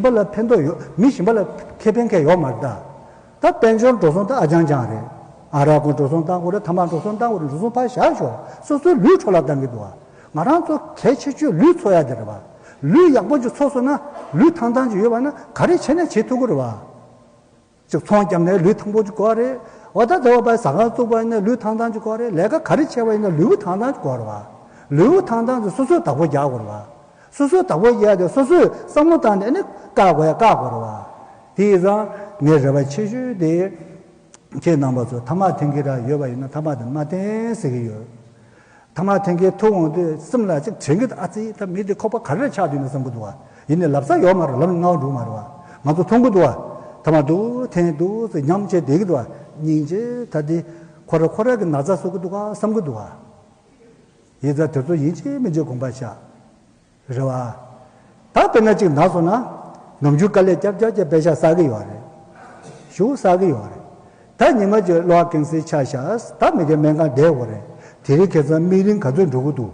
པ་ལ་ཕན་ཐོགས་ཡོད་མི་ཞིང་པ་ལ་ཁེ་ཕན་ཁེ་ཡོག་མ་རེད་ད། ད་དཔལ་འབྱོར་འགྲོ་སོང་ད་ཨ་ཅང་ཅང་རེད། ཨ་རག་གོ་འགྲོ་སོང་ད་འགོ་རེད་ཐ་མག་འགྲོ་སོང་ད་འགོ་རེད་འགྲོ་སོང་ཕར་བཞག་ཞོག་སོ་སོའི་ལུས་འཕྲོ་ལ་ལྡང་གི་འདུག་ཨ། ང་རང་ཚོ་གལ་ཆེ་ཆོས་ལུས་འཚོ་ཡག་གི་རེད་བ། ལུས་ཡག་པོ་ཅིག་འཚོ་སོང་ན་ལུས་ཐང་ཐང་ཅིག་ཡོད་བ་ན་ག་རེ་བྱེད་ན་བྱེད་ཐུག་གི་རེད་བ། ཅིག་ཚོང་བརྒྱབ་ནས་ལུས་ཐང་པོ་གཅིག་གོ་རེད། འོ་ད་དེ་བ་པའི་ཟ་ཁང་བཙུགས་པ་ཡིན་ན་ལུས་ཐང་ཐང་གཅིག་གོ་རེད་ལས་ཀ་ག་རེ་བྱས་པ་ཡིན་ན་ལུས་བུ་ཐང་ཐང་གཅིག་གོ་རེད་བ། ལུས་བུ་ཐང་ཐང་གཅིག་སོ་སོའི་བདག་པོ་རྒྱག་དགོས་རེད་བ། སོ་སོའི་བདག་པོ་རྒྱག་སྟེ་སོ་སོས་བསམ་བློ་བཏང་ནས་ནི་བཀག་དགོས་ཡ་བཀག་དགོས་རེད་བ། དེ་ཡིས་ཙང་ངའི་རེ་བ་ཆེ་ཤོས་དེ། ཁྱེད་རྣམ་པ་ཚོས་ཐ་མག་འཐེན་གི་ར་ཡོད་པ་ཡིན་ན་ཐ་མག་དེ་མ་འཐེན་ཟེར་གི་ཡོད། ཐ་མ་དེང་གི་ཐུགས་དབང་དུས་གསུམ་ལ་ཅིག་དྲན་གི་འདུག་ཨ་ཙི་ད་མི་དེ་ཁོག་པ་ག་རེར་ཆགས་བསྡད་འདུག་བསམ་གི་འདུག་བ་ཡིན་ནས་ལབ་ས་ཡོད་མ་རེད་ལབ་ན་ངའོ་འགྲོ་གི་མ་རེད་བ་ང་ཚོ་མཐོང་གི་འདུག་བ་ཐ་མ་འདུག་དེང་འདུག་ཟེར་སྙམ་བྱས་བསྡད་གི་འདུག་བ་སྙིང་རྗེ་ད་དེ་ཁོ་ར་ཁོ་ར་གི་ན་ཚ་བཟོ་གི་འདུག་ག་བསམ་གི་འདུག་བ། ཡིད་ཚ་དེ་ཚོ་ཡིན་གཅིག་མིན་གཅིག་དགོངས་པ་ཆགས། རེད་བ། ད་དཔེར་ན་གཅིག་ནགས་སོང་ན། ནམ་རྒྱུན་དཀའ་ལས་སྐྱབས་སྐྱབས་ཀྱི་དཔེ་ཆ་བསགས་ཀྱི་ཡོད་རེད། ཞུ་བསགས་ཀྱི་ཡོད་རེད། ད་ཉི་མ་གཅིག་གློག་ཀན་སིའི་ཆ་བཞག་ད་མི་གི་སྨན་ཁང་བསྡད་དགོས་རེད། དེ་རིང་ཁེ་ཚང་དམིགས་རིང་ག་ཚོད་འགྲོ་གི་འདུག།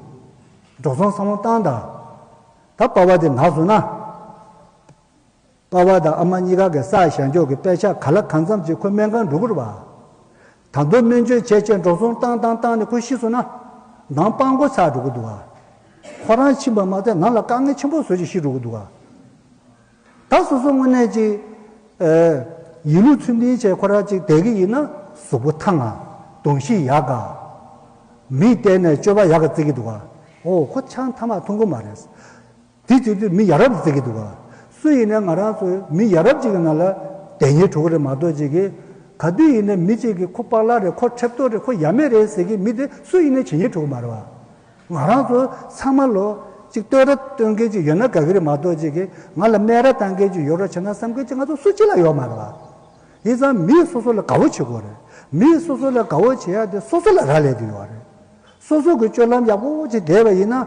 འགྲོ་སོང་བསམ་བློ་བཏང་དང། ད་དཔའ་བ་དེ་ནགས་སོང་ན། པ་བ་དང་ཨ་མ་གཉིས་ཀ་གི་སར་བྱང་ཕྱོགས་ཀྱི་དཔེ་ཆ་ག་ལ་གང་འཚམས་ཅིག་ཁོས་སྨན་ཁང་འགྲོ་དགོས་རེད་པ། ད་མདོ་སྨན་བཅོས་བྱས་བྱས་འགྲོ་སོང་བཏང་བཏང་བཏང་ནས་ཁོས་ཤི་སོང་ན། འདང་དཔང་འགོ་ཚར་འགྲོ་གི་འདུག་ག། ཁོ་རང་ཕྱིན་པ་མ་ཚད་ང་ལ་དཀའ་ངལ་ཆེན་པོ་བཟོ་བཞིན་ཤི་འགྲོ་གི་འདུག་ག། ད་སོ་སོ་དངོས་གནས་ཅིག། ཡིན་ལུགས་ཚུལ་མིན་བྱས་ཁོ་རང་ཅིག་བསྡད་གི་ཡིན་ན་གཟུགས་པོ་ཐང་ང། གདོང་བཞི་ཡག་ག། མིག་གཏད་ནས་སྤྱོད་པ་ཡག་ག་བརྩི་གི་འདུག་ག། ཨོ་ཁོ་ཆང་ཐ་མག་འཐུང་གི་མ་རེད། དེ་ཅིག་ཏུ་མི་ཡ་རབས་ཟེར་གྱི་འདུག་ག། སུ་ཡིན་ན་ང་རང་ཚོའི་མི་ཡ་རབས་ཅིག་གི་ནང་ལ་དེ་གཉིས་བྲོ་གི་རེད་མ་གཏོགས་ཅིག་གི། ག་དུས་ཡིན་ན་མི་ཅིག་གིས་ཁོ་པག་ལག་རེད་ཁོ་ཁྲེབ་ཏོག་རེད་ཁོ་ཡ་མེད་རེད་ཟེར་གྱི་མི་དེ་སུ་ཡིན་ན་ཇི་སྙེད་བྲོ་གི་མ་རེད་བ། ང་རང་ཚོ་ཚང་མ་ལོ་ཅིག་ལྟོས་ར་སྟོན་མཁན་ཅིག་ཡོད་ན་དགའ་གི་རེད་མ་གཏོགས་ཅིག་གི། ང་ལ་སྨད་ར་བཏང་མཁན་ཅིག་ཡོད་རོགས་བྱེད་ན་བསམ་མཁན་ཅིག་ང་ཚོ་སུ་གཅིག་ལ་ཡོད་མ་རེད་བ། ཡིན་ཙང་མིས་སོ་སོ་ལ་དགའ་བོ་བྱེད་དགོས་རེད། མིས་སོ་སོ་ལ་དགའ་བོ་བྱེད་ཡ་དེ་སོ་སོ་ལ་རག་ལས་དེ་ཡོད་བ་རེད། སོ་སོ་གི་སྤྱོད་ལམ་ཡག་པོ་བོ་ཅིག་བསྡད་པ་ཡིན་ན།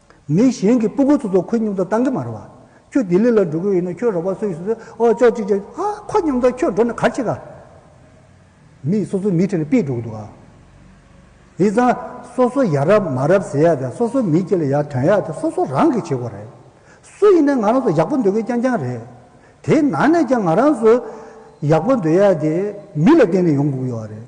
མི་གཞན་གྱི་སྤུ་གུ་ཚོ་ཚོ་ཁོའི་སྙིང་སྟོབས་བཏང་གི་མ་རེད་བ། ཁྱོད་ལྡི་ལི་ལ་འགྲོ་གི་ཡོད་ན་ཁྱོད་རོགས་པ་སུ་ཡིན་སུ་ཟེར་ཨོ་ཅོག་ཅིག་ཅིག་ཨ་ཁོ་སྙིང་སྟོབས་ཁྱོད་འགྲོ་ན་གར་ཆེ་ག། མི་སོ་སོའི་མི་ཁྲི་ལ་པིས་འགྲོ་གི་འདུག་ཨ། ཡིན་ཙང་སོ་སོ་ཡག་རབས་མ་རབས་ཟེར་ཡག་དེ་སོ་སོའི་མི་སྐྱིད་ལ་ཡག་དོན་ཡག་དེ་སོ་སོ་རང་གིས་བྱེད་དགོས་རེད། སུ་ཡིན་ན་ང་རང་ཚོ་ཡག་པོ་འདོད་མཁན་རྐྱང་རྐྱང་རེད། དེའི་ནང་ནས་ཀྱང་ང་རང་ཚོ་ཡག་པོ་འདོད་ཡག་དེ་མི་ལ་བརྟེན་ནས་ཡོང་དགོས་ཀྱི་ཡོད་རེད།